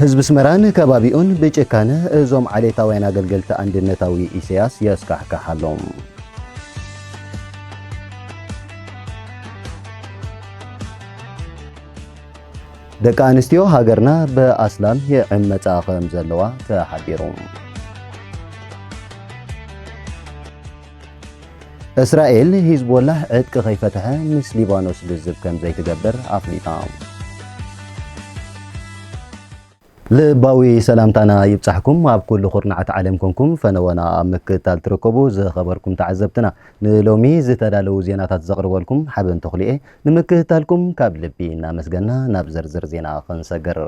ህዝቢ ኣስመራን ከባቢኡን ብጭካነ እዞም ዓሌታውያን ኣገልገልቲ ኣንድነታዊ ኢሰያስ የስካሕክሕ ኣሎ። ደቂ ኣንስትዮ ሃገርና ብኣስላም ይዕመፃ ከም ዘለዋ ተሓቢሩ። እስራኤል ሂዝቦላህ ዕጥቂ ከይፈትሐ ምስ ሊባኖስ ልዝብ ከምዘይትገብር ኣፍሊጣ። ልባዊ ሰላምታና ይብጻሕኩም ኣብ ኩሉ ኩርናዓት ዓለም ኮንኩም ፈነወና ኣብ ምክትታል ትርከቡ ዝኸበርኩም ተዓዘብትና ንሎሚ ዝተዳለዉ ዜናታት ዘቕርበልኩም ሓበን ተኽልኤ ንምክትታልኩም ካብ ልቢ እናመስገና ናብ ዝርዝር ዜና ክንሰግር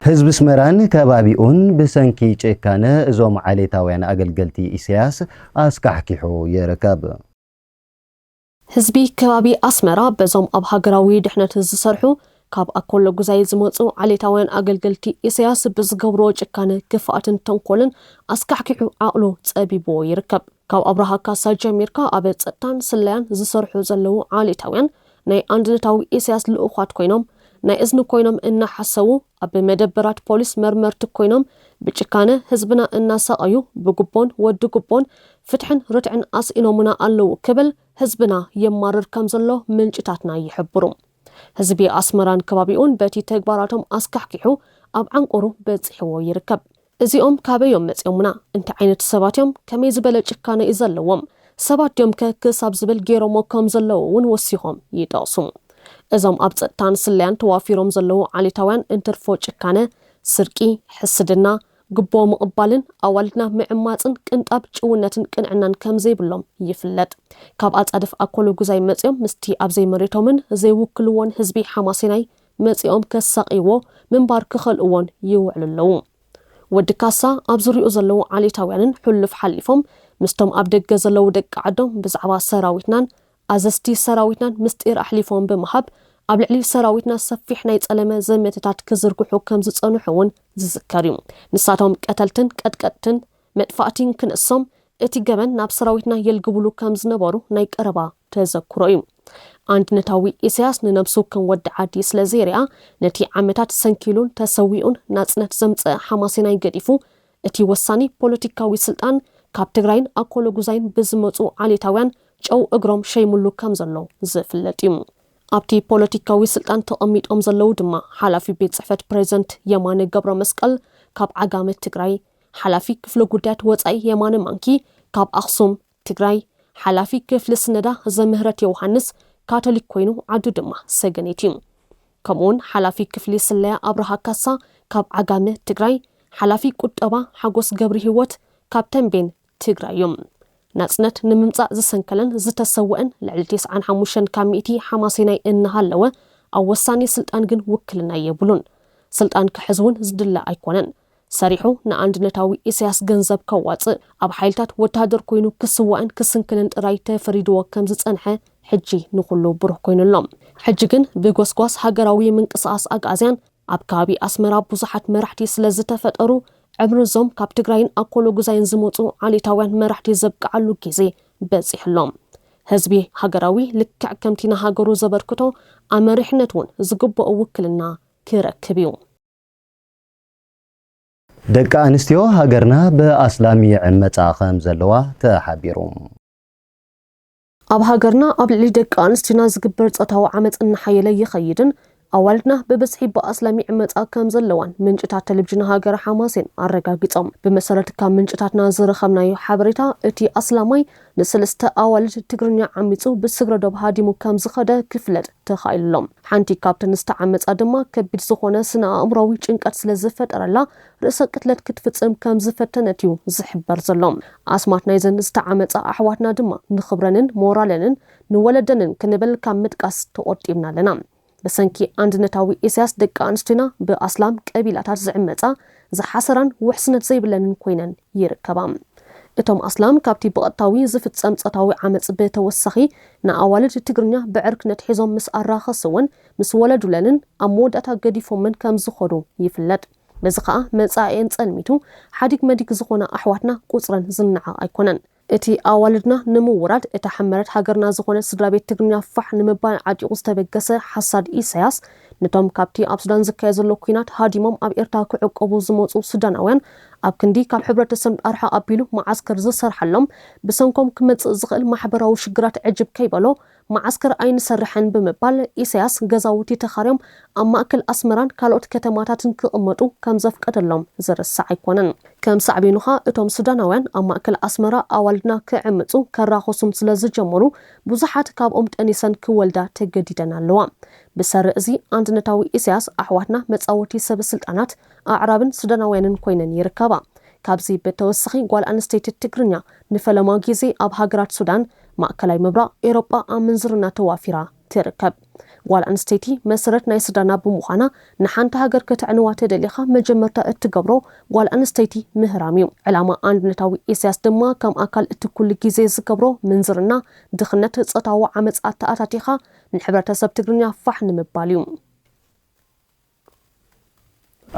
ህዝቢ ኣስመራን ከባቢኡን ብሰንኪ ጭካነ እዞም ዓሌታውያን ኣገልገልቲ ኢሰያስ ኣስካሕኪሑ ይርከብ። ህዝቢ ከባቢ ኣስመራ በዞም ኣብ ሃገራዊ ድሕነት ዝሰርሑ ካብ ኣኮሎጉዛይ ዝመጹ ዓሌታውያን ኣገልገልቲ ኢሰያስ ብዝገብርዎ ጭካነ፣ ክፍኣትን ተንኮልን ኣስካሕኪሑ ዓቕሉ ጸቢብዎ ይርከብ። ካብ ኣብርሃ ካሳ ጀሚርካ ኣብ ጸጥታን ስለያን ዝሰርሑ ዘለዉ ዓሌታውያን ናይ ኣንድነታዊ ኢሰያስ ልኡዃት ኮይኖም ናይ እዝኒ ኮይኖም እናሓሰዉ ኣብ መደበራት ፖሊስ መርመርቲ ኮይኖም ብጭካነ ህዝብና እናሳቐዩ ብጉቦን ወዲ ጉቦን ፍትሕን ርትዕን ኣስኢኖሙና ኣለዉ ክብል ህዝብና የማርር ከም ዘሎ ምንጭታትና ይሕብሩ። ህዝቢ ኣስመራን ከባቢኡን በቲ ተግባራቶም ኣስካሕኪሑ ኣብ ዓንቁሩ በጺሕዎ ይርከብ። እዚኦም ካበይ እዮም መጺኦሙና? እንታይ ዓይነት ሰባት እዮም? ከመይ ዝበለ ጭካነ እዩ ዘለዎም? ሰባት ድዮም ከ? ክሳብ ዝብል ገይሮምዎ ከም ዘለዉ እውን ወሲኾም ይጠቕሱ። እዞም ኣብ ጸጥታን ስለያን ተዋፊሮም ዘለዉ ዓሌታውያን እንትርፎ ጭካነ፣ ስርቂ፣ ሕስድና፣ ጉቦ ምቕባልን ኣዋልድና ምዕማጽን ቅንጣብ ጭውነትን ቅንዕናን ከም ዘይብሎም ይፍለጥ። ካብ ኣጻድፍ ኣኮሎጉዛይ መጺኦም ምስቲ ኣብ ዘይመሬቶምን ዘይውክልዎን ህዝቢ ሓማሴናይ መጺኦም ከሳቕይዎ ምንባር ክኸልእዎን ይውዕሉ ኣለዉ። ወዲ ካሳ ኣብ ዙርይኡ ዘለዉ ዓሌታውያንን ሕሉፍ ሓሊፎም ምስቶም ኣብ ደገ ዘለዉ ደቂ ዓዶም ብዛዕባ ሰራዊትናን ኣዘዝቲ ሰራዊትናን ምስጢር ኣሕሊፎም ብምሃብ ኣብ ልዕሊ ሰራዊትና ሰፊሕ ናይ ጸለመ ዘመተታት ክዝርግሑ ከም ዝጸንሑ'ውን ዝዝከር እዩ። ንሳቶም ቀተልትን ቀጥቀጥትን መጥፋእቲ እንክንእሶም እቲ ገበን ናብ ሰራዊትና የልግብሉ ከም ዝነበሩ ናይ ቀረባ ተዘክሮ እዩ። ኣንድነታዊ ኢሳያስ ንነብሱ ከም ወዲ ዓዲ ስለ ዘይርኣ ነቲ ዓመታት ሰንኪሉን ተሰዊኡን ናጽነት ዘምጸኣ ሓማሴናይ ገዲፉ እቲ ወሳኒ ፖለቲካዊ ስልጣን ካብ ትግራይን ኣኮሎጉዛይን ብዝመጹ ዓሌታውያን ጨው እግሮም ሸይምሉ ከም ዘሎ ዝፍለጥ እዩ። ኣብቲ ፖለቲካዊ ስልጣን ተቐሚጦም ዘለዉ ድማ ሓላፊ ቤት ጽሕፈት ፕረዚደንት የማነ ገብረመስቀል ካብ ዓጋመ ትግራይ፣ ሓላፊ ክፍሊ ጉዳያት ወፃኢ የማነ ማንኪ ካብ ኣኽሱም፣ ትግራይ፣ ሓላፊ ክፍሊ ስነዳ ዘምህረት የውሃንስ ካቶሊክ ኮይኑ ዓዱ ድማ ሰገኔት እዩ። ከምኡ ውን ሓላፊ ክፍሊ ስለያ ኣብርሃ ካሳ ካብ ዓጋመ፣ ትግራይ፣ ሓላፊ ቁጠባ ሓጎስ ገብሪሂወት ካብ ተምቤን፣ ትግራይ፣ እዮም። ናፅነት ንምምፃእ ዝሰንከለን ዝተሰወእን ልዕሊ ቴስዓን ሓሙሽተን ካብ ሚእቲ ሓማሴናይ እናሃለወ ኣብ ወሳኒ ስልጣን ግን ውክልና የብሉን። ስልጣን ክሕዝ ውን ዝድለ ኣይኮነን። ሰሪሑ ንኣንድነታዊ ኢሳያስ ገንዘብ ከዋጽእ፣ ኣብ ሓይልታት ወተሃደር ኮይኑ ክስዋእን ክስንክልን ጥራይ ተፈሪድዎ ከም ዝጸንሐ ሕጂ ንኹሉ ብሩህ ኮይኑ ኣሎ። ሕጂ ግን ብጎስጓስ ሃገራዊ ምንቅስቓስ ኣግኣዝያን ኣብ ከባቢ ኣስመራ ብዙሓት መራሕቲ ስለ ዝተፈጠሩ፣ ዕምር'ዞም ካብ ትግራይን ኣኮሎጉዛይን ዝመጹ ዓሌታውያን መራሕቲ ዘብቅዓሉ ጊዜ በጺሑ ኣሎ። ህዝቢ ሃገራዊ ልክዕ ከምቲ ንሃገሩ ዘበርክቶ ኣመሪሕነት'ውን ዝግብኦ ውክልና ክረክብ እዩ። ደቂ ኣንስትዮ ሃገርና ብኣስላም ይዕመጻ ከም ዘለዋ ተሓቢሩ። ኣብ ሃገርና ኣብ ልዕሊ ደቂ ኣንስትዮና ዝግበር ጾታዊ ዓመጽ እናሓየለ ይኸይድን ኣዋልድና ብብዝሒ ብኣስላም ይዕመጻ ከም ዘለዋን ምንጭታት ተለቪዥን ሃገረ ሓማሴን ኣረጋጊጾም። ብመሰረት ካብ ምንጭታትና ዝረኸብናዮ ሓበሬታ እቲ ኣስላማይ ንሰለስተ ኣዋልድ ትግርኛ ዓሚጹ ብስግረ ዶብ ሃዲሙ ከም ዝኸደ ክፍለጥ ተኻኢሉ'ሎ። ሓንቲ ካብተን ዝተዓመጻ ድማ ከቢድ ዝኾነ ስነ-ኣእምሮኣዊ ጭንቀት ስለ ዝፈጠረላ ርእሰ ቅትለት ክትፍጽም ከም ዝፈተነት'ዩ ዝሕበር ዘሎ። ኣስማት ናይዘን ዝተዓመጻ ኣሕዋትና ድማ ንኽብረንን ሞራለንን ንወለደንን ክንብል ካብ ምጥቃስ ተቖጢብና ኣለና። ብሰንኪ ኣንድነታዊ ኢሳያስ ደቂ ኣንስትዮና ብኣስላም ቀቢላታት ዝዕመጻ ዝሓሰራን ውሕስነት ዘይብለንን ኮይነን ይርከባ። እቶም ኣስላም ካብቲ ብቐጥታዊ ዝፍጸም ጾታዊ ዓመጽ ብተወሳኺ ንኣዋልድ ትግርኛ ብዕርክነት ሒዞም ምስ ኣራኸስወን፣ ምስ ወለዱለንን ኣብ መወዳእታ ገዲፎመን ከም ዝኸዱ ይፍለጥ። በዚ ከኣ መጻኢኤን ጸልሚቱ ሓዲግ መዲግ ዝኾና ኣሕዋትና ቁጽረን ዝነዓቕ ኣይኮነን። እቲ ኣዋልድና ንምውራድ እታ ሕመረት ሃገርና ዝኾነት ስድራቤት ትግርኛ ፋሕ ንምባል ዓጢቑ ዝተበገሰ ሓሳድ ኢሳያስ፣ ነቶም ካብቲ ኣብ ሱዳን ዝካየድ ዘሎ ኲናት ሃዲሞም ኣብ ኤርትራ ክዕቆቡ ዝመጹ ሱዳናውያን ኣብ ክንዲ ካብ ሕብረተሰብ ኣርሕቕ ኣቢሉ መዓስከር ዝሰርሓሎም፣ ብሰንኮም ክመጽእ ዝኽእል ማሕበራዊ ሽግራት ዕጅብ ከይበሎ መዓስከር ኣይንሰርሕን ብምባል ኢሳያስ ገዛውቲ ተኻርዮም ኣብ ማእከል ኣስመራን ካልኦት ከተማታትን ክቕመጡ ከም ዘፍቀደሎም ዝርሳዕ ኣይኮነን። ከም ሳዕቤኑ ከኣ እቶም ሱዳናውያን ኣብ ማእከል ኣስመራ ኣዋልድና ክዕምጹ ከራኹሱን ስለ ዝጀመሩ ብዙሓት ካብኦም ጠኒሰን ክወልዳ ተገዲደን ኣለዋ። ብሰሪ እዚ ኣንድነታዊ ኢሳያስ ኣሕዋትና መጻወቲ ሰበ ስልጣናት ኣዕራብን ሱዳናውያንን ኮይነን ይርከባ። ካብዚ ብተወሳኺ ጓል ኣንስተይቲ ትግርኛ ንፈለማ ጊዜ ኣብ ሃገራት ሱዳን፣ ማእከላይ ምብራቕ፣ ኤሮጳ ኣብ ምንዝርና ተዋፊራ ትርከብ። ጓል ኣንስተይቲ መሰረት ናይ ስድራና ብምዃና ንሓንቲ ሃገር ከተዕንዋ ተደሊኻ መጀመርታ እትገብሮ ጓል ኣንስተይቲ ምህራም እዩ። ዕላማ ኣንድነታዊ ኢሳያስ ድማ ከም ኣካል እቲ ኩሉ ግዜ ዝገብሮ ምንዝርና፣ ድኽነት፣ ጾታዊ ዓመጽ ኣተኣታቲኻ ንሕብረተሰብ ትግርኛ ፋሕ ንምባል እዩ።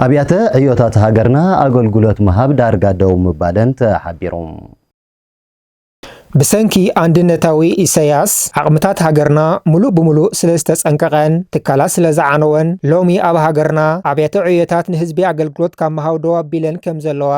ኣብያተ ዕዮታት ሃገርና ኣገልግሎት ምሃብ ዳርጋ ደው ምባለን ተሓቢሩ። ብሰንኪ ኣንድነታዊ ኢሰያስ ዓቕምታት ሃገርና ምሉእ ብምሉእ ስለ ዝተጸንቀቐን ትካላት ስለ ዝዓነወን ሎሚ ኣብ ሃገርና ኣብያተ ዕዮታት ንህዝቢ ኣገልግሎት ካብ ምሃብ ደው ኣቢለን ከም ዘለዋ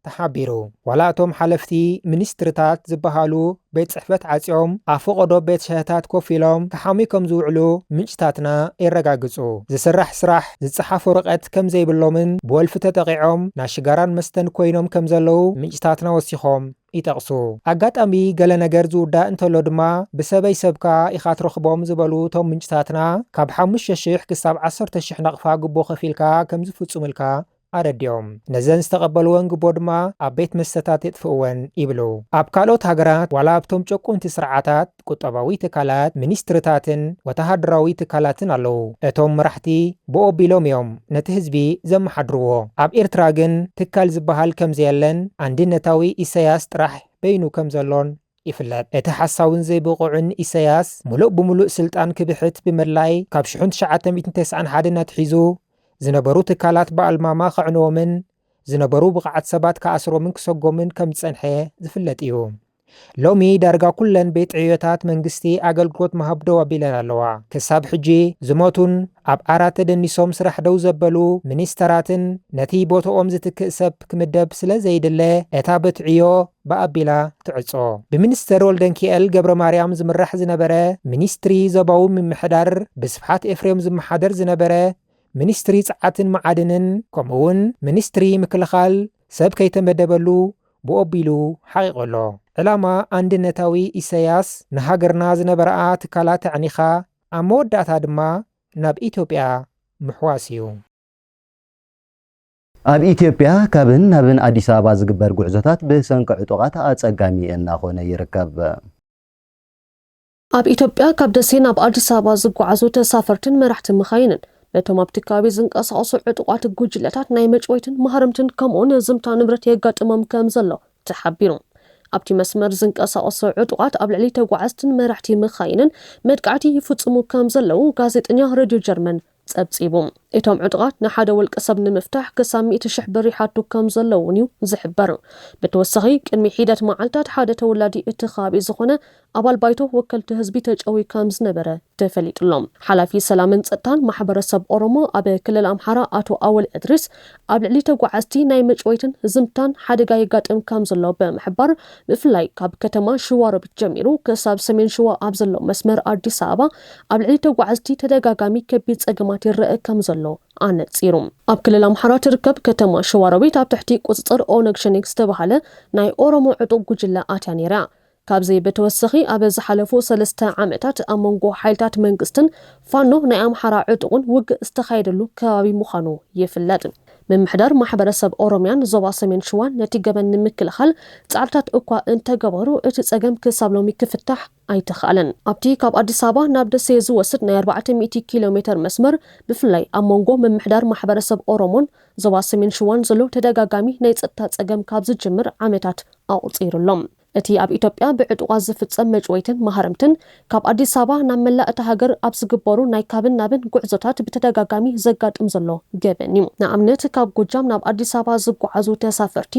ተሓቢሩ። ዋላ እቶም ሓለፍቲ ሚኒስትሪታት ዝበሃሉ ቤት ጽሕፈት ዓጽዮም ኣብ ፈቐዶ ቤት ሻሂታት ኮፍ ኢሎም ክሓምዩ ከም ዝውዕሉ ምንጭታትና የረጋግጹ። ዝስራሕ ስራሕ፣ ዝጸሓፍ ወረቐት ከም ዘይብሎምን ብወልፊ ተጠቒዖም ናይ ሽጋራን መስተን ኮይኖም ከም ዘለዉ ምንጭታትና ወሲኾም ይጠቕሱ። ኣጋጣሚ ገለ ነገር ዝውዳእ እንተሎ ድማ ብሰበይ ሰብ ከኣ ኢኻ ትረኽቦም ዝበሉ እቶም ምንጭታትና፣ ካብ ሓሙሽተ ሽሕ ክሳብ ዓሰርተ ሽሕ ናቕፋ ጉቦ ከፊልካ ከም ዝፍጹምልካ ኣረዲኦም። ነዘን ዝተቐበልወን ጉቦ ድማ ኣብ ቤት መስተታት የጥፍእወን ይብሉ። ኣብ ካልኦት ሃገራት ዋላ ኣብቶም ጨቆንቲ ስርዓታት፣ ቁጠባዊ ትካላት፣ ሚኒስትሪታትን ወተሃደራዊ ትካላትን ኣለዉ። እቶም መራሕቲ ብኡ ኣቢሎም እዮም ነቲ ህዝቢ ዘመሓድርዎ። ኣብ ኤርትራ ግን ትካል ዝበሃል ከም ዘየለን ኣንድነታዊ ኢሰያስ ጥራሕ በይኑ ከም ዘሎን ይፍለጥ። እቲ ሓሳውን ዘይብቑዕን ኢሰያስ ምሉእ ብምሉእ ስልጣን ክብሕት ብምድላይ ካብ ሽሕን ትሽዓተ ሚእትን ተስዓን ሓደን ኣትሒዙ ዝነበሩ ትካላት ብኣልማማ ከዕንዎምን ዝነበሩ ብቐዓት ሰባት ክኣስሮምን ክሰጎምን ከም ዝጸንሐ ዝፍለጥ እዩ። ሎሚ ዳርጋ ኩለን ቤት ዕዮታት መንግስቲ ኣገልግሎት ምሃብ ደው ኣቢለን ኣለዋ። ክሳብ ሕጂ ዝሞቱን ኣብ ዓራት ተደኒሶም ስራሕ ደው ዘበሉ ሚኒስተራትን ነቲ ቦትኦም ዝትክእ ሰብ ክምደብ ስለ ዘይድለ እታ በት ዕዮ ብኣቢላ ትዕጾ። ብሚኒስተር ወልደንኪኤል ገብረማርያም ዝምራሕ ዝነበረ ሚኒስትሪ ዞባዊ ምምሕዳር፣ ብስብሓት ኤፍሬም ዝመሓደር ዝነበረ ሚኒስትሪ ጸዓትን መዓድንን ከምኡ'ውን ሚኒስትሪ ምክልኻል ሰብ ከይተመደበሉ ብኦቢሉ ሓቒቑ ኣሎ። ዕላማ ኣንድነታዊ ኢሰያስ ንሃገርና ዝነበራኣ ትካላት ኣዕኒኻ ኣብ መወዳእታ ድማ ናብ ኢትዮጵያ ምሕዋስ እዩ። ኣብ ኢትዮጵያ ካብን ናብን ኣዲስ ኣበባ ዝግበር ጉዕዞታት ብሰንኪ ዕጡቓት ኣጸጋሚ እናኾነ ይርከብ። ኣብ ኢትዮጵያ ካብ ደሴ ናብ ኣዲስ ኣበባ ዝጓዓዙ ተሳፈርትን መራሕቲ መኻይንን ነቶም ኣብቲ ከባቢ ዝንቀሳቐሱ ዕጡቓት ጉጅለታት ናይ መጭወይትን ማህረምትን ከምኡውን ዝምታ ንብረት የጋጥሞም ከም ዘሎ ተሓቢሩ። ኣብቲ መስመር ዝንቀሳቐሱ ዕጡቓት ኣብ ልዕሊ ተጓዓዝትን መራሕቲ መኻይንን መጥቃዕቲ ይፍጽሙ ከም ዘለዉ ጋዜጠኛ ረድዮ ጀርመን ጸብጺቡ። እቶም ዕጡቓት ንሓደ ውልቀሰብ ንምፍታሕ ክሳብ ሚእቲ ሽሕ ብር ይሓቱ ከም ዘለዉ'ውን'ዩ ዝሕበር። ብተወሳኺ ቅድሚ ሒደት መዓልታት ሓደ ተወላዲ እቲ ከባቢ ዝኾነ ኣባል ባይቶ ወከልቲ ህዝቢ ተጨውዩ ከም ዝነበረ ተፈሊጡ'ሎ። ሓላፊ ሰላምን ጸጥታን ማሕበረሰብ ኦሮሞ ኣብ ክልል ኣምሓራ ኣቶ ኣወል እድሪስ ኣብ ልዕሊ ተጓዓዝቲ ናይ መጭወይትን ዝምታን ሓደጋ የጋጥም ከም ዘሎ ብምሕባር፣ ብፍላይ ካብ ከተማ ሽዋሮቢት ጀሚሩ ክሳብ ሰሜን ሽዋ ኣብ ዘሎ መስመር ኣዲስ ኣበባ ኣብ ልዕሊ ተጓዓዝቲ ተደጋጋሚ ከቢድ ጸገማት ይረኣ ከም ዘሎ ኣነጺሩ። ኣብ ክልል ኣምሓራ ትርከብ ከተማ ሽዋሮቢት ኣብ ትሕቲ ቁጽጽር ኦነግ ሸኔ ዝተበሃለ ናይ ኦሮሞ ዕጡቕ ጉጅለ ኣትያ ነይራ። ካብዚ ብተወሰኺ ኣብ ዝሓለፉ ሰለስተ ዓመታት ኣብ መንጎ ሓይልታት መንግስትን ፋኖ ናይ ኣምሓራ ዕጡቕን ውግእ ዝተኻየደሉ ከባቢ ምዃኑ ይፍለጥ። ምምሕዳር ማሕበረሰብ ኦሮምያን ዞባ ሰሜን ሽዋን ነቲ ገበን ንምክልኻል ፃዕርታት እኳ እንተገበሩ እቲ ፀገም ክሳብ ሎሚ ክፍታሕ ኣይተኽኣለን። ኣብቲ ካብ ኣዲስ ኣበባ ናብ ደሴ ዝወስድ ናይ ኣርባዕተ ሚእቲ ኪሎ ሜተር መስመር ብፍላይ ኣብ መንጎ ምምሕዳር ማሕበረሰብ ኦሮሞን ዞባ ሰሜን ሽዋን ዘሎ ተደጋጋሚ ናይ ፀጥታ ፀገም ካብ ዝጅምር ዓመታት ኣቑፂሩ ኣሎ። እቲ ኣብ ኢትዮጵያ ብዕጡቓት ዝፍጸም መጭወይትን ማህረምትን፣ ካብ ኣዲስ ኣበባ ናብ መላእ እታ ሃገር ኣብ ዝግበሩ ናይ ካብን ናብን ጉዕዞታት ብተደጋጋሚ ዘጋጥም ዘሎ ገበን እዩ። ንኣብነት ካብ ጎጃም ናብ ኣዲስ ኣበባ ዝጓዓዙ ተሳፈርቲ፣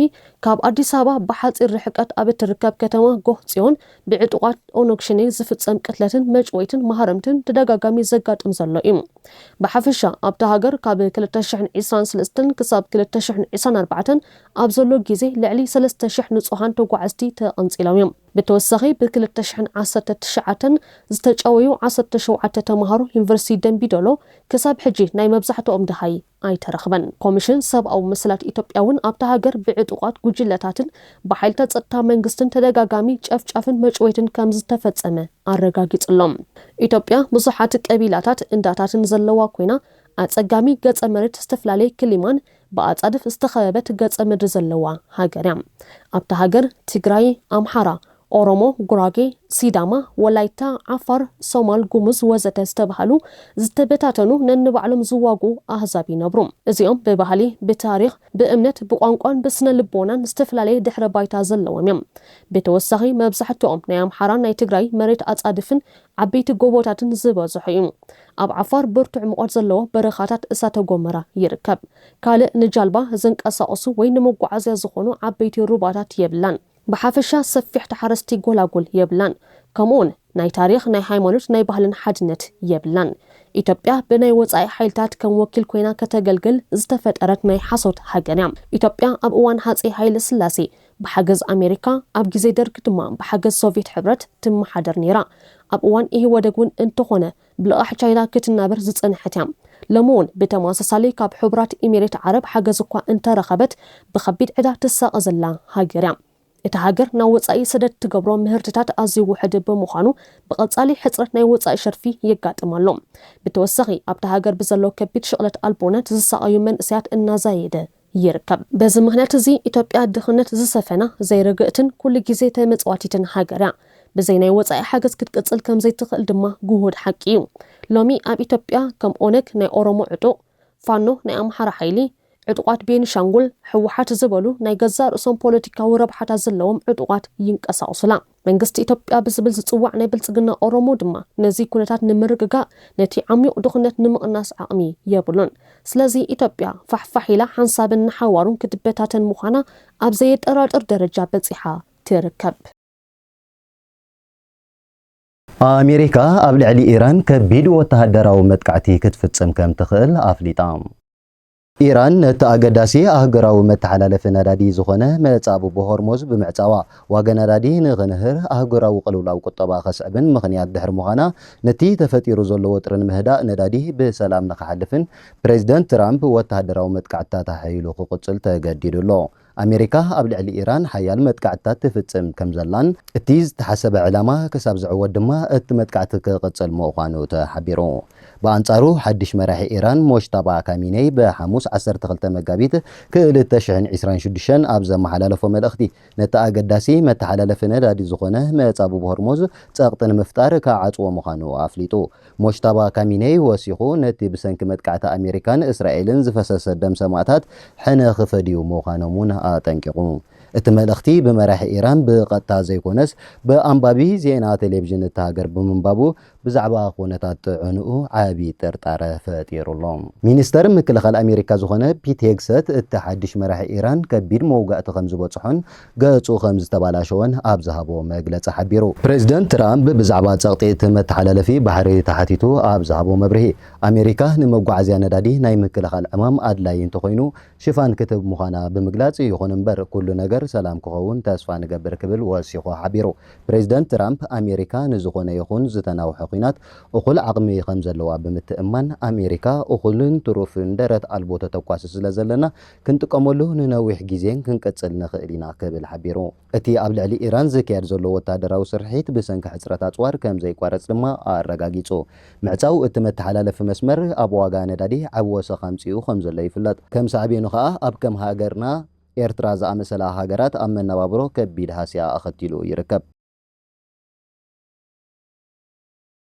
ካብ ኣዲስ ኣበባ ብሓጺር ርሕቀት ኣብ እትርከብ ከተማ ጎህ ጽዮን ብዕጡቓት ኦነግ ሽኔ ዝፍጸም ቅትለትን መጭወይትን ማህረምትን ብተደጋጋሚ ዘጋጥም ዘሎ እዩ። ብሓፈሻ ኣብታ ሃገር ካብ ክልተ ሽሕን ዕስራን ስለስተን ክሳብ ክልተ ሽሕን ዕስራን ኣርባዕተን ኣብ ዘሎ ግዜ ልዕሊ ሰለስተ ሽሕ ንጹሃን ተጓዓዝቲ ተቐንጺሎም እዮም። ብተወሳኺ ብ ክልተ ሽሕን ዓሰርተ ትሽዓተን ዝተጨወዩ ዓሰርተ ሸውዓተ ተማሃሮ ዩኒቨርሲቲ ደምቢ ዶሎ ክሳብ ሕጂ ናይ መብዛሕትኦም ደሃይ ኣይተረኽበን። ኮሚሽን ሰብኣዊ መሰላት ኢትዮጵያ እውን ኣብታ ሃገር ብዕጡቓት ጉጅለታትን ብሓይልታት ጸጥታ መንግስትን ተደጋጋሚ ጨፍጫፍን መጭወይትን ከምዝተፈጸመ ኣረጋጊጹ ኣሎ። ኢትዮጵያ ብዙሓት ቀቢላታት እንዳታትን ዘለዋ ኮይና ኣጸጋሚ ገጸ መሬት ዝተፈላለየ ክሊማን ብኣጻድፍ ዝተኸበበት ገጸ ምድሪ ዘለዋ ሃገር እያ። ኣብታ ሃገር ትግራይ፣ ኣምሓራ፣ ኦሮሞ፣ ጉራጌ፣ ሲዳማ፣ ወላይታ፣ ዓፋር፣ ሶማል፣ ጉሙዝ ወዘተ ዝተባህሉ ዝተበታተኑ ነንባዕሎም ዝዋግኡ ኣህዛብ ይነብሩ። እዚኦም ብባህሊ፣ ብታሪኽ፣ ብእምነት፣ ብቋንቋን ብስነ ልቦናን ዝተፈላለየ ድሕረ ባይታ ዘለዎም እዮም። ብተወሳኺ መብዛሕትኦም ናይ ኣምሓራን ናይ ትግራይ መሬት ኣጻድፍን ዓበይቲ ጎቦታትን ዝበዝሖ እዩ። ኣብ ዓፋር ብርቱዕ ሙቐት ዘለዎ በረኻታት እሳተ ጎመራ ይርከብ። ካልእ ንጃልባ ዘንቀሳቕሱ ወይ ንመጓዓዝያ ዝኾኑ ዓበይቲ ሩባታት የብላን። ብሓፈሻ ሰፊሕ ተሓረስቲ ጎላጉል የብላን። ከምኡውን ናይ ታሪኽ፣ ናይ ሃይማኖት፣ ናይ ባህልን ሓድነት የብላን። ኢትዮጵያ ብናይ ወጻኢ ሓይልታት ከም ወኪል ኮይና ከተገልግል ዝተፈጠረት ናይ ሓሶት ሃገር እያ። ኢትዮጵያ ኣብ እዋን ሃጼ ሃይለስላሴ ብሓገዝ ኣሜሪካ ኣብ ግዜ ደርግ ድማ ብሓገዝ ሶቭየት ሕብረት ትመሓደር ነይራ። ኣብ እዋን ኢህወደግ እውን እንተኾነ ብልቓሕ ቻይና ክትናበር ዝጸንሐት እያ። ሎሚ እውን ብተመሳሳሊ ካብ ሕቡራት ኢሚሬት ዓረብ ሓገዝ እኳ እንተረኸበት ብኸቢድ ዕዳ ትሳቐ ዘላ ሃገር እያ። እታ ሃገር ናብ ወጻኢ ሰደድ ትገብሮ ምህርትታት ኣዝዩ ውሑድ ብምዃኑ ብቐጻሊ ሕጽረት ናይ ወጻኢ ሸርፊ የጋጥማ ኣሎ። ብተወሳኺ ኣብታ ሃገር ብዘሎ ከቢድ ሽቕለት ኣልቦነት ዝሳቐዩ መንእሰያት እናዛየደ ይርከብ። በዚ ምኽንያት እዚ ኢትዮጵያ ድኽነት ዝሰፈና፣ ዘይርግእትን ኩሉ ግዜ ተመጽዋቲትን ሃገር እያ። ብዘይ ናይ ወጻኢ ሓገዝ ክትቅጽል ከም ዘይትኽእል ድማ ግሁድ ሓቂ እዩ። ሎሚ ኣብ ኢትዮጵያ ከም ኦነግ ናይ ኦሮሞ ዕጡቕ፣ ፋኖ ናይ ኣምሓራ ሓይሊ፣ ዕጡቓት ቤኒሻንጉል፣ ህወሓት ዝበሉ ናይ ገዛእ ርእሶም ፖለቲካዊ ረብሓታት ዘለዎም ዕጡቓት ይንቀሳቕሱላ። መንግስቲ ኢትዮጵያ ብዝብል ዝጽዋዕ ናይ ብልጽግና ኦሮሞ ድማ ነዚ ኩነታት ንምርግጋእ ነቲ ዓሚዩቕ ድኹነት ንምቕናስ ዓቕሚ የብሉን። ስለዚ ኢትዮጵያ ፋሕፋሕ ኢላ ሓንሳብን ንሓዋሩን ክትበታተን ምዃና ኣብ ዘየጠራጥር ደረጃ በጺሓ ትርከብ። ኣሜሪካ ኣብ ልዕሊ ኢራን ከቢድ ወተሃደራዊ መጥቃዕቲ ክትፍጽም ከምትኽእል ኣፍሊጣ። ኢራን ነቲ ኣገዳሲ ኣህጉራዊ መተሓላለፊ ነዳዲ ዝኾነ መጻብቦ ሆርሞዝ ብምዕጻዋ፣ ዋጋ ነዳዲ ንኽንህር፣ ኣህጉራዊ ቅልውላው ቁጠባ ከስዕብን ምኽንያት ድሕሪ ምዃና፣ ነቲ ተፈጢሩ ዘሎ ወጥሪ ንምህዳእ ነዳዲ ብሰላም ንኽሓልፍን ፕረዚደንት ትራምፕ ወተሃደራዊ መጥቃዕትታት ኣሐይሉ ክቕጽል ተገዲዱ ኣሎ። ኣሜሪካ ኣብ ልዕሊ ኢራን ሓያል መጥቃዕትታት ትፍጽም ከም ዘላን እቲ ዝተሓሰበ ዕላማ ክሳብ ዝዕወት ድማ እቲ መጥቃዕቲ ክቕጽል ምዃኑ ተሓቢሩ። ብኣንጻሩ ሓድሽ መራሒ ኢራን ሞጅታባ ካሚኔይ ብሓሙስ ዓሰርተ ክልተ መጋቢት ክልተ ሽሕን ዕስራን ሽዱሽተን ኣብ ዘመሓላለፎ መልእኽቲ ነቲ ኣገዳሲ መተሓላለፊ ነዳዲ ዝኾነ መጻብብ ሆርሞዝ ጸቕጢ ንምፍጣር ክዓጽዎ ምዃኑ ኣፍሊጡ። ሞጅታባ ካሚኔይ ወሲኹ፣ ነቲ ብሰንኪ መጥቃዕቲ ኣሜሪካን እስራኤልን ዝፈሰሰ ደም ሰማእታት ሕነ ክፈድዩ ምዃኖም'ውን ኣጠንቂቑ። እቲ መልእኽቲ ብመራሒ ኢራን ብቐጥታ ዘይኮነስ ብኣንባቢ ዜና ቴሌቪዥን እታ ሃገር ብምንባቡ ብዛዕባ ኩነታት ጥዕንኡ ዓቢ ጥርጣረ ፈጢሩ ኣሎ። ሚኒስተር ምክልኻል ኣሜሪካ ዝኾነ ፒት ሄግሰት፣ እቲ ሓድሽ መራሒ ኢራን ከቢድ መውጋእቲ ከምዝበጽሖን ገጹ ከም ዝተባላሸወን ኣብ ዝሃቦ መግለጺ ሓቢሩ። ፕረዚደንት ትራምፕ ብዛዕባ ጸቕጢ እቲ መተሓላለፊ ባሕሪ ተሓቲቱ ኣብ ዝሃቦ መብርሂ፣ ኣሜሪካ ንመጓዓዝያ ነዳዲ ናይ ምክልኻል ዕማም ኣድላዪ እንተኾይኑ ሽፋን ክትህብ ምዃና ብምግላጽ፣ ይኹን እምበር ኩሉ ነገር ሰላም ክኸውን ተስፋ ንገብር ክብል ወሲኹ ሓቢሩ። ፕረዚደንት ትራምፕ፣ ኣሜሪካ ንዝኾነ ይኹን ዝተናውሐ ኲናት እኹል ዓቕሚ ከም ዘለዋ ብምትእምማን፣ ኣሜሪካ እኹልን ትሩፍን ደረት ኣልቦ ተተኳሲ ስለ ዘለና ክንጥቀመሉ ንነዊሕ ግዜን ክንቅጽል ንኽእል ኢና ክብል ሓቢሩ። እቲ ኣብ ልዕሊ ኢራን ዝካየድ ዘሎ ወተሃደራዊ ስርሒት ብሰንኪ ሕጽረት ኣጽዋር ከም ዘይቋረጽ ድማ ኣረጋጊጹ። ምዕጻው እቲ መተሓላለፊ መስመር ኣብ ዋጋ ነዳዲ ዓቢ ወሰኽ ኣምጺኡ ከም ዘሎ ይፍለጥ። ከም ሳዕቤኑ ከኣ ኣብ ከም ሃገርና ኤርትራ ዝኣመሰላ ሃገራት ኣብ መነባብሮ ከቢድ ሃስያ ኣኸቲሉ ይርከብ።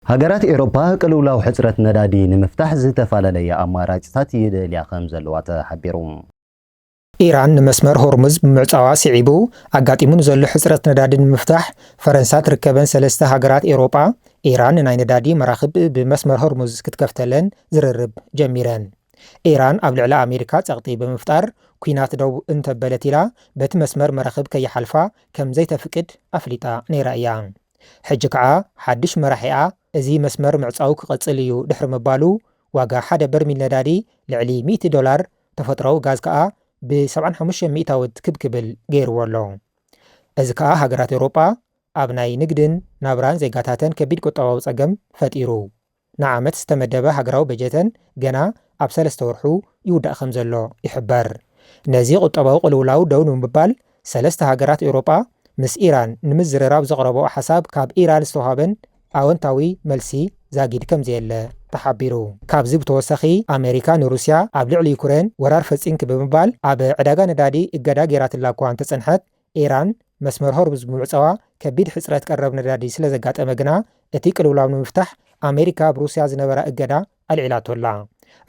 ሃገራት ኤሮፓ ቅልውላው ሕጽረት ነዳዲ ንምፍታሕ ዝተፈላለየ ኣማራጭታት ይደልያ ከምዘለዋ ተሓቢሩ። ኢራን ንመስመር ሆርሙዝ ብምዕጻዋ ስዒቡ ኣጋጢሙ ንዘሎ ሕጽረት ነዳዲ ንምፍታሕ ፈረንሳ ትርከበን ሰለስተ ሃገራት ኤውሮጳ ኢራን ናይ ነዳዲ መራኽብ ብመስመር ሆርሙዝ ክትከፍተለን ዝርርብ ጀሚረን። ኢራን ኣብ ልዕሊ ኣሜሪካ ጸቕጢ ብምፍጣር ኲናት ደው እንተበለት ኢላ በቲ መስመር መራኽብ ከይሓልፋ ከም ዘይተፍቅድ ኣፍሊጣ ነይራ እያ። ሕጂ ከኣ ሓድሽ መራሒኣ እዚ መስመር ምዕጻው ክቕጽል እዩ ድሕሪ ምባሉ፣ ዋጋ ሓደ በርሚል ነዳዲ ልዕሊ ሚእቲ ዶላር፣ ተፈጥሮኣዊ ጋዝ ከኣ ብ ሰብዓን ሓሙሽተን ሚእታውት ክብ ክብል ገይርዎ ኣሎ። እዚ ከኣ ሃገራት ኤውሮጳ ኣብ ናይ ንግድን ናብራን ዜጋታተን ከቢድ ቁጠባዊ ጸገም ፈጢሩ። ንዓመት ዝተመደበ ሃገራዊ በጀተን ገና ኣብ ሰለስተ ወርሑ ይውዳእ ከምዘሎ ይሕበር። ነዚ ቁጠባዊ ቅልውላው ደው ንምባል ሰለስተ ሃገራት ኤውሮጳ ምስ ኢራን ንምዝርራብ ዘቕረበኦ ሓሳብ ካብ ኢራን ዝተውሃበን ኣወንታዊ መልሲ ዛጊድ ከምዘየለ ተሓቢሩ። ካብዚ ብተወሳኺ ኣመሪካ ንሩስያ ኣብ ልዕሊ ዩክሬን ወራር ፈጺምኪ ብምባል ኣብ ዕዳጋ ነዳዲ እገዳ ገይራትላ እኳ እንተጸንሐት ኢራን መስመር ሆርሙዝ ብምዕጻዋ ከቢድ ሕጽረት ቀረብ ነዳዲ ስለ ዘጋጠመ ግና እቲ ቅልውላው ንምፍታሕ ኣመሪካ ኣብ ሩስያ ዝነበራ እገዳ ኣልዒላቶ ኣላ።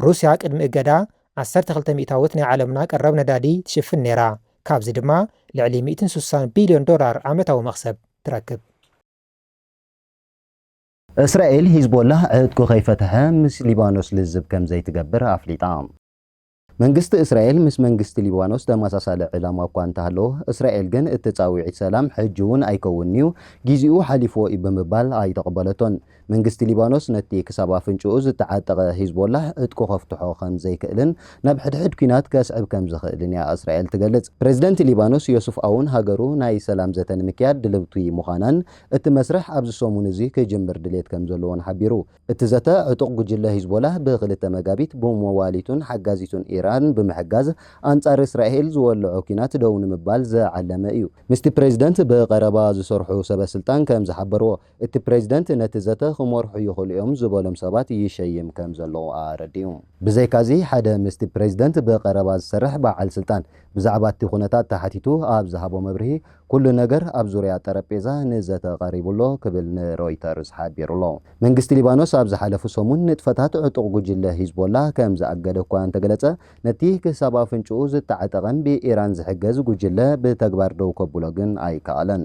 ሩስያ ቅድሚ እገዳ ዓሰርተ ክልተ ሚእታዊት ናይ ዓለምና ቀረብ ነዳዲ ትሽፍን ነይራ፣ ካብዚ ድማ ልዕሊ ሚእትን ሱሳን ቢልዮን ዶላር ዓመታዊ መኽሰብ ትረክብ። እስራኤል ሂዝቦላህ ዕጥቁ ከይፈትሐ ምስ ሊባኖስ ልዝብ ከምዘይትገብር ኣፍሊጣ። መንግስቲ እስራኤል ምስ መንግስቲ ሊባኖስ ተመሳሳሊ ዕላማ እኳ እንተሃለዎ፣ እስራኤል ግን እቲ ጻውዒት ሰላም ሕጂ'ውን ኣይከውንን'ዩ፣ ግዜኡ ሓሊፉዎ'ዩ ብምባል ኣይተቐበለቶን። መንግስቲ ሊባኖስ ነቲ ክሳብ ኣፍንጭኡ ዝተዓጠቐ ሂዝቦላህ ዕጥቁ ከፍትሖ ከም ዘይክእልን ናብ ሕድሕድ ኲናት ከስዕብ ከም ዝኽእልን'ያ እስራኤል ትገልጽ። ፕረዚደንት ሊባኖስ ዮሱፍ ኣውን ሃገሩ ናይ ሰላም ዘተ ንምክያድ ድልውቲ ምዃናን እቲ መስርሕ ኣብዚ ሰሙን'ዚ ክጅምር ድሌት ከም ዘለዎን ሓቢሩ። እቲ ዘተ፣ ዕጡቕ ጉጅለ ሂዝቦላህ ብክልተ መጋቢት ብመዋሊቱን ሓጋዚቱን ኢራን ብምሕጋዝ ኣንጻር እስራኤል ዝወለዖ ኲናት ደው ንምባል ዝዓለመ እዩ። ምስቲ ፕረዚደንት ብቐረባ ዝሰርሑ ሰበስልጣን ከም ዝሓበርዎ፣ እቲ ፕረዚደንት ነቲ ዘተ ክመርሑ ይኽእሉ እዮም ዝበሎም ሰባት ይሸይም ከም ዘሎ ኣረዲኡ። ብዘይካ'ዚ፣ ሓደ ምስቲ ፕረዚደንት ብቐረባ ዝሰርሕ በዓል ስልጣን ብዛዕባ'ቲ ኩነታት ተሓቲቱ ኣብ ዝሃቦ መብርሂ፣ ኩሉ ነገር ኣብ ዙርያ ጠረጴዛ ንዘተ ቀሪቡ ኣሎ ክብል ንሮይተርስ ሓቢሩ'ሎ። መንግስቲ ሊባኖስ ኣብ ዝሓለፉ ሰሙን ንጥፈታት ዕጡቕ ጉጅለ ሂዝቦላ ከም ዝኣገደ እኳ እንተገለጸ፣ ነቲ ክሳብ ኣፍንጭኡ ዝተዓጠቐን ብኢራን ዝሕገዝ ጉጅለ ብተግባር ደው ከብሎ ግን ኣይከኣለን።